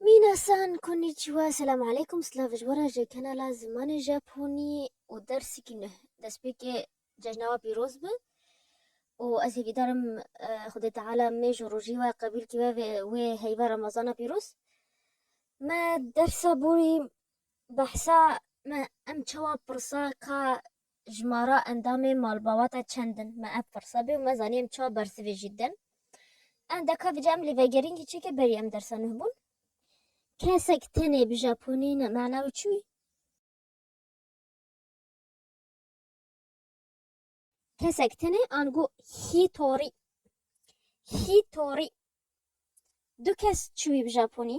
Minasan, Konnichiwa, Selam Aleykum, Silav ji we re ji kanala Zimanê Japonî û Dersekî Nuh. Destpêkê cejna we pîroz be û ez hîvîdar im Xwedê Teala mêj û rojî we qebûl kî ve vê wê heyva remezana pîroz. Me dersa borî behsa me em çawa pirsa ka Ji me re endamên malbawata çend in? Me ev pirse bê û me zanî em çawa bersivê jî din. Endeka vije em li vegerîn kî çêke berî em dersa nuh bûn. Kesek tenê bi japonî ne mana wî çi wî? Kesek tenê ango hitorî. Hitorî. Du kes çi wî bi japonî?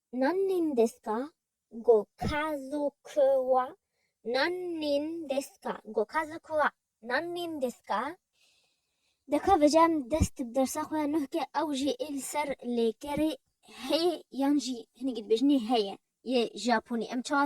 Nan nîn deska go ka zo kı wa Nan nîn deska go ka zo kı wa Nan nîn deska Deka vecem dest bi dersa xo ya nuh ke ew jî ê li ser lêkerê heye yan jî hinek dibêjin nê heye yê japonî em çawa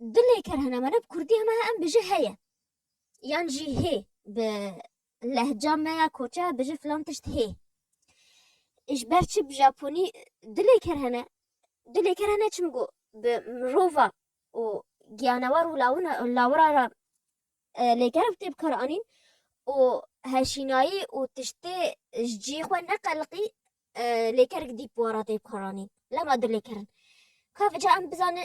Dilê ker hene mane bi kurdî heme em bije heye yan jî hê bi lehca me ya koçe bije filan tişt hê. Ji ber çi bi Japonî dilê ker hene dilê ker hene çim got bi mirova û giyanewar û lawina lawira re lêkeriv tê bikar anîn û heşînayî û tiştê ji cî xwe neqeliqî lêkerik dî wara tê bikaranîn lema dilê kerin. Ka vica em bizane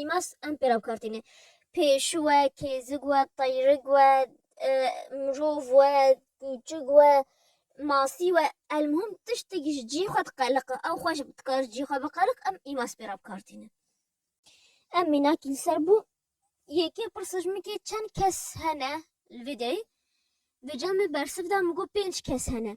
Îmas em pê re bi kar tîne. Pêşu we, kêzik we, teyrik we, mirov we, kûçik we, masî we elmuhim tiştek ji cî xwe diqeliq e. Ew xwe ji dikar ji cî xwe biqeliq em îmas pê re bi kar tîne. Em mînakî li ser bû yekê pirsa ji min kê çend kes hene li vê deyê? Vê camê bersiv da min got pênc kes hene.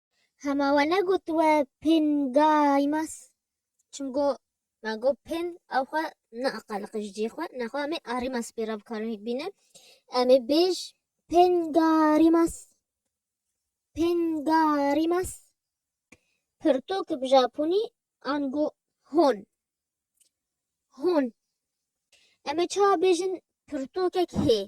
Hema we negot we pin gaymas. Çim go ma go pin ew xwe neaqaliqi ji cihê xwe nexwe em ê arîmas pê re bikarin hik bînin. Em ê bêj pin garimas. Pin garimas. Pirtûk bi japonî an go hon. Hon. Em ê çawa bêjin pirtûkek hê.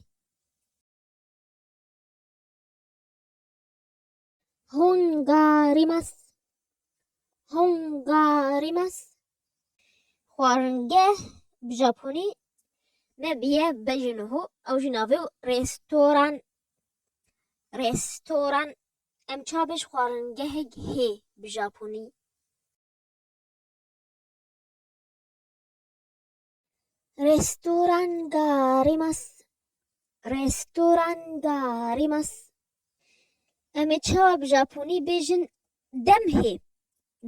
Hungarimas Hungarimas Xwaringeh bi Japonî me biye be jî niho ew jî navê û restoran restoran em çavê ji xwaringehek hê bi Japonî. Restoranda Rimas Restoranda Rimas Em ê çawa bi Japonî bêjin dem hê.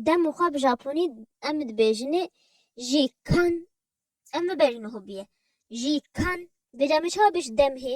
Dem û xwe bi Japonî em dibêjinê jî kan em bibêjin hobiye jî kan bêje em ê çawa bêjin dem hê.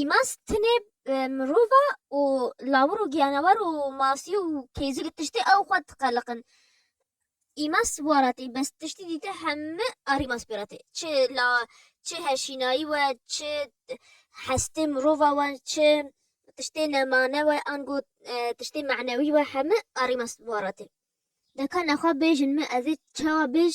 Îmaz tenê mirov e û lawir û giyanewer û masî û kêzî li tiştê ew xwe diqeleqin. Îmaz waratî bes tiştî dîte heme arîmaz pê re tê. Çi la çi heşînayî we, çi hestê mirova we, çi tiştê nemane we ango tiştê manewî we heme arîmaz waratî. Deka nexwe bêjin min ez ê çawa bêj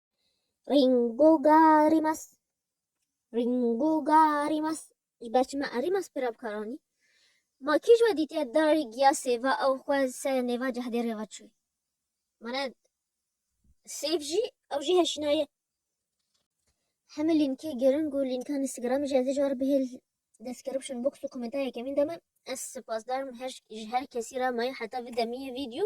Ringogarimas. Ringogarimas. Ji ber çima erimas pira bikaranî? Ma kî ji we dîtiye darê giya sêva ew xwe serê nêva cehdêrê ve çûye? Mana sêv jî ew jî heşînaye. Hemê lînkê giring û lînka Instagramê jî ez dê ji we re bihêl description box û komenta yekemîn de me. Ez sipasdarim her ji her kesî re me heta vê demiyê vîdeo.